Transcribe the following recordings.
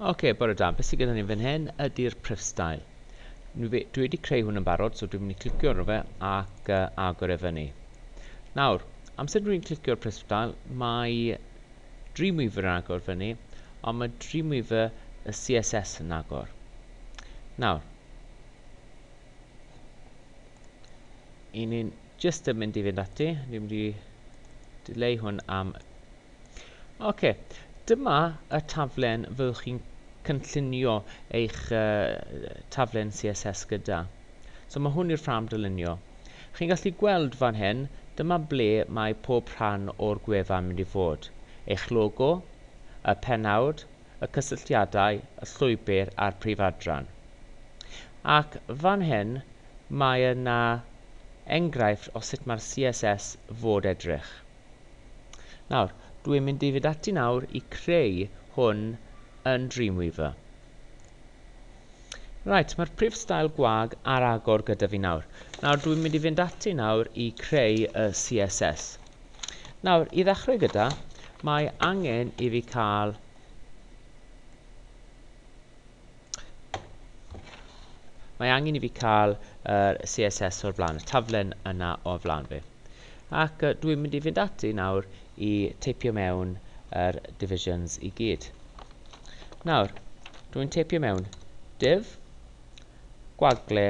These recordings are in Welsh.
Ok, bore da. Beth sydd gyda ni fan hyn ydy'r prif stael. Dwi wedi creu hwn yn barod, so dwi'n mynd i clicio ar fe ac uh, agor e fyny. Nawr, amser dwi'n clicio'r prif stael, mae Dreamweaver yn agor fyny, ond mae Dreamweaver y CSS yn agor. Nawr, i ni'n just yn mynd i fynd ati, dwi'n mynd i dileu hwn am Ok, dyma y taflen fyddwch chi'n cynllunio eich taflen CSS gyda. So mae hwn i'r ffrâm dylunio. Chi'n gallu gweld fan hyn, dyma ble mae pob rhan o'r gwefan yn mynd i fod. Eich logo, y pennawd, y cysylltiadau, y llwybr a'r prif adran. Ac fan hyn mae yna enghraifft o sut mae'r CSS fod edrych. Nawr, dw i'n mynd i fynd ati nawr i creu hwn yn Dreamweaver. Right, mae'r prif stael gwag ar agor gyda fi nawr. Nawr, dw i'n mynd i fynd ati nawr i creu y CSS. Nawr, i ddechrau gyda, mae angen i fi cael Mae angen i fi cael yr CSS o'r flaen, y taflen yna o'r flaen fi. Ac uh, dwi'n mynd i fynd ati nawr i teipio mewn yr divisions i gyd. Nawr, dwi'n teipio mewn div, gwagle,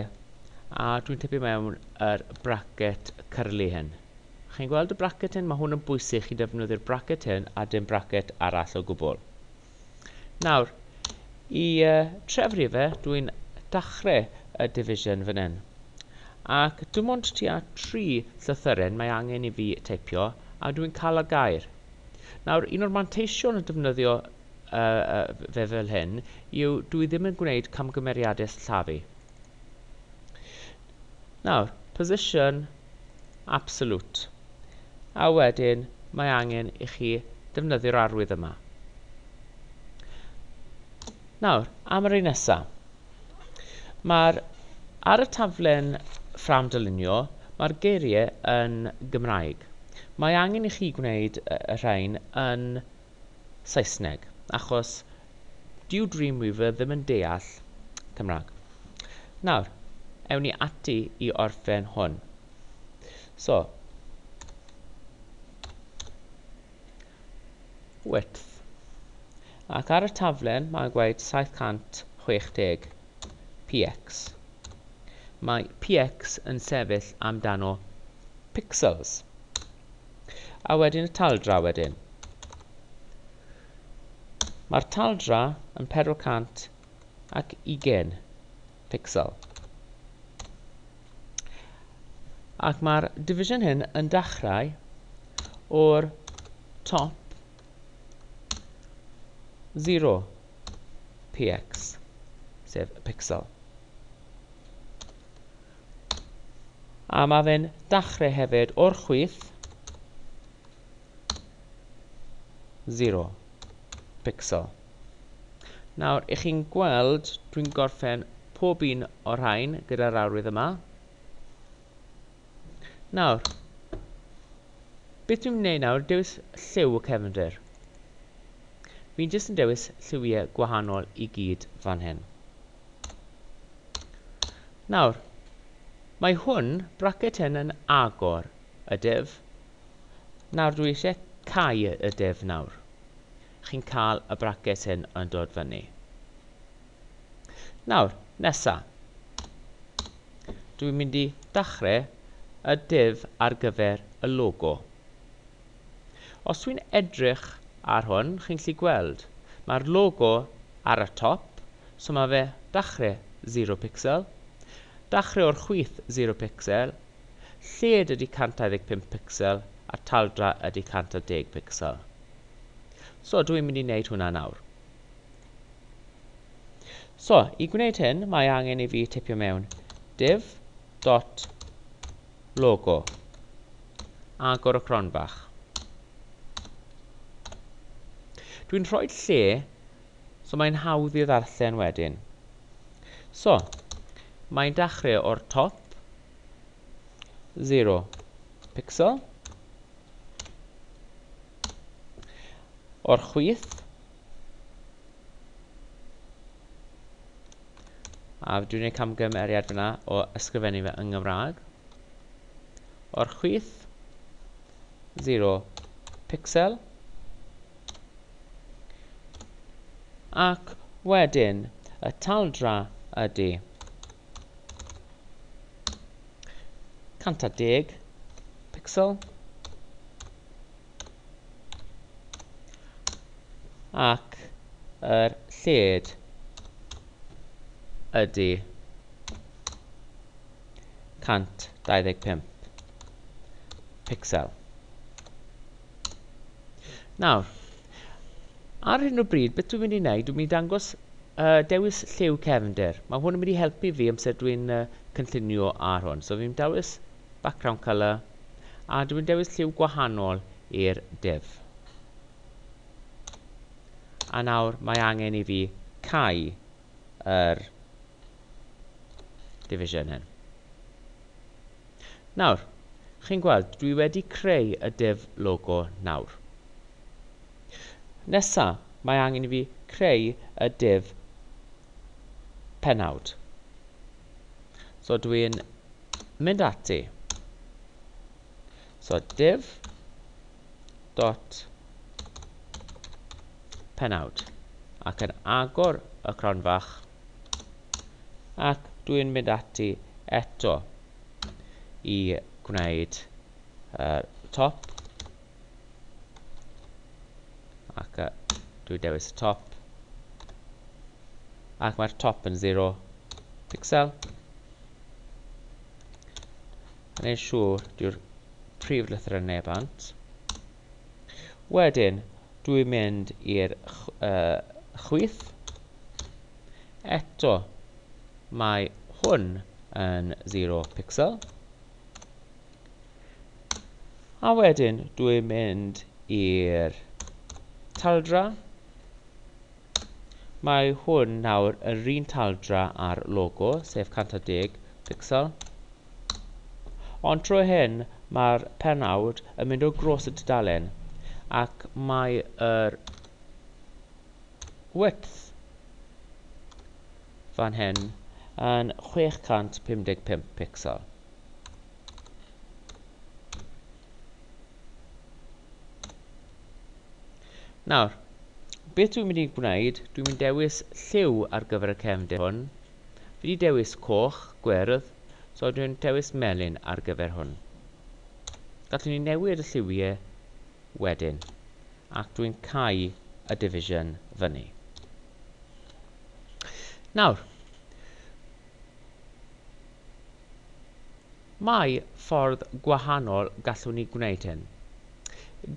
a dwi'n teipio mewn yr bracket curly hyn. Chi'n gweld y bracket hyn? Mae hwn yn bwysig chi defnyddio'r bracket hyn a dim bracket arall o gwbl. Nawr, i uh, trefru fe, dwi'n dachrau y division fan hyn. Ac dim ond tua tri llythyren mae angen i fi teipio, a dwi'n cael y gair. Nawr, un o'r manteision o defnyddio uh, uh, fe fel hyn yw dwi ddim yn gwneud camgymeriadau sillafu. Nawr, position absolute. A wedyn mae angen i chi ddefnyddio'r arwydd yma. Nawr, am yr un nesaf. Mae'r ar y taflen ffram dylunio, mae'r geiriau yn Gymraeg. Mae angen i chi gwneud y rhain yn Saesneg, achos dyw Dreamweaver ddim yn deall Cymraeg. Nawr, ewn ni ati i orffen hwn. So, width. Ac ar y taflen mae'n gweud 760 px. Mae px yn sefyll amdano pixels. A wedyn y taldra wedyn. Mae'r taldra yn 420 pixel. Ac mae'r division hyn yn dechrau o'r top 0 px, sef y pixel. A mae fe'n dachre hefyd o'r chwith. Zero. Pixel. Nawr, i chi'n gweld, dwi'n gorffen pob un o'r rhain gyda'r arwydd yma. Nawr, beth dwi'n gwneud nawr, dewis lliw y cefndir. Fi'n jyst yn dewis lliwiau gwahanol i gyd fan hyn. Nawr, mae hwn, bracet hyn, yn agor y div. Nawr dwi eisiau cau y div nawr. Chi'n cael y bracet hyn yn dod fyny. Nawr, nesa. Dwi'n mynd i dachrau y div ar gyfer y logo. Os dwi'n edrych ar hwn, chi'n gallu gweld, mae'r logo ar y top, so mae fe dachrau zero pixel, dachrau o'r chwith zero pixel, lled ydy 125 pixel a taldra ydy 110 pixel. So dwi'n mynd i wneud hwnna nawr. So, i gwneud hyn, mae angen i fi tipio mewn div dot logo. agor y cronfach. Dwi'n rhoi'r lle, so mae'n hawdd i ddarllen wedyn. So, mae'n dechrau o'r top, 0 pixel, o'r chwith, a dwi'n ei camgymeriad fyna o ysgrifennu fe yng Nghymraeg. o'r chwith, 0 pixel, ac wedyn y taldra ydy 110 pixel ac yr lled ydy 125 picsel. Nawr, ar hyn o bryd, beth dwi'n mynd i wneud, dwi'n mynd i dangos uh, dewis lliw cefnder. Mae hwn yn mynd i helpu fi amser dwi'n uh, cynllunio ar hwn. So fi'n dewis background colour a dwi'n dewis lliw gwahanol i'r div. A nawr mae angen i fi cau yr Division hyn. Nawr, chi'n gweld, dwi wedi creu y div logo nawr. Nesa, mae angen i fi creu y div penawd. So dwi'n mynd ati. So div dot penawd ac yn agor y cronfach ac dwi'n mynd ati eto i gwneud y top ac uh, dwi'n dewis y top ac mae'r top yn 0 pixel yn ei siŵr dyw'r prif lythrau neu bant Wedyn dw i'n mynd i'r chwith. Eto mae hwn yn zero pixel. A wedyn dw i'n mynd i'r taldra. Mae hwn nawr yr un taldra â'r logo, sef 110 picsel. Ond trwy hyn, mae'r pennawd yn mynd o gros y tudalen, ac mae yr width fan hyn yn 655 picsel. Nawr, beth dwi'n mynd i gwneud, dwi'n mynd dewis lliw ar gyfer y cefndir hwn. Fi wedi dewis coch, gwyrdd, so dwi'n dewis melyn ar gyfer hwn. Gallwn ni newid y lliwiau wedyn, ac dwi'n cau y division fyny. Nawr, Mae ffordd gwahanol gallwn ni gwneud hyn.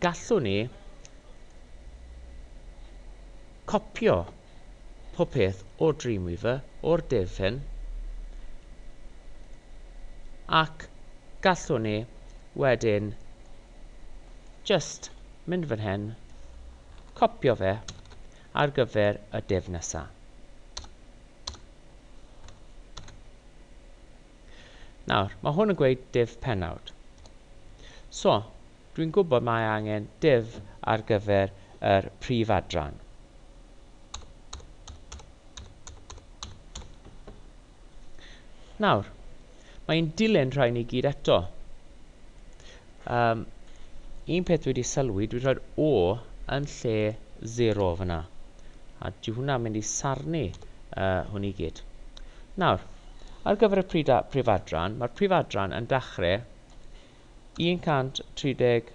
Gallwn ni copio popeth o Dreamweaver o'r dull hyn ac gallwn ni wedyn jyst mynd fan hyn, copio fe ar gyfer y dull nesaf. Nawr, mae hwn yn gweud div pennawd. So, dwi'n gwybod mae angen div ar gyfer yr prif adran. Nawr, mae'n dilyn rhain i gyd eto. Yym, un peth dwi 'di sylwi, dwi'n rhoi'r O yn lle zero fyna. A dyw hwnna'n mynd i sarnu uh, hwn i gyd. Nawr, ar gyfer y prif, prif adran, mae'r prif adran yn dechrau 137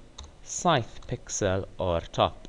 pixel o'r top.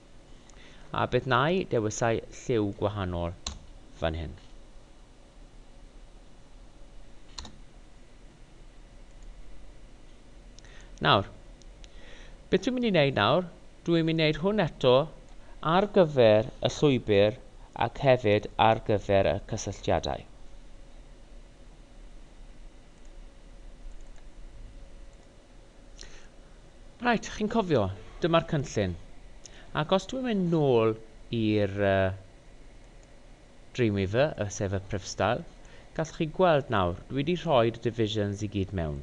A beth na'i dewisai lliw gwahanol fan hyn? Nawr, beth dwi'n mynd i wneud nawr? Dwi'n mynd i wneud hwn eto ar gyfer y llwybr ac hefyd ar gyfer y cysylltiadau. Reit, chi'n cofio, dyma'r cynllun. Ac os dwi'n mynd nôl i'r uh, Dreamweaver, sef y prifstael, gallwch chi gweld nawr, dwi wedi rhoi y divisions i gyd mewn,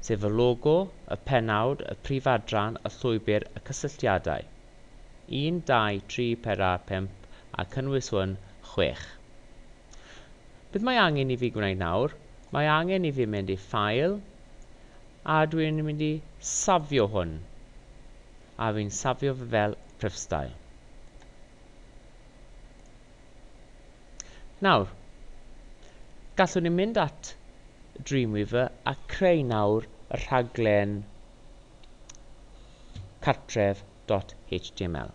sef y logo, y penawd, y prif adran, y llwybr, y cysylltiadau. 1, 2, 3, 4, 5 a cynnwys hwn, 6. Beth mae angen i fi gwneud nawr? Mae angen i fi mynd i File, a dwi yn mynd i safio hwn, a fi'n safio fe fel prifstael. Nawr, gallwn ni mynd at Dreamweaver a creu nawr y rhaglen cartref.html.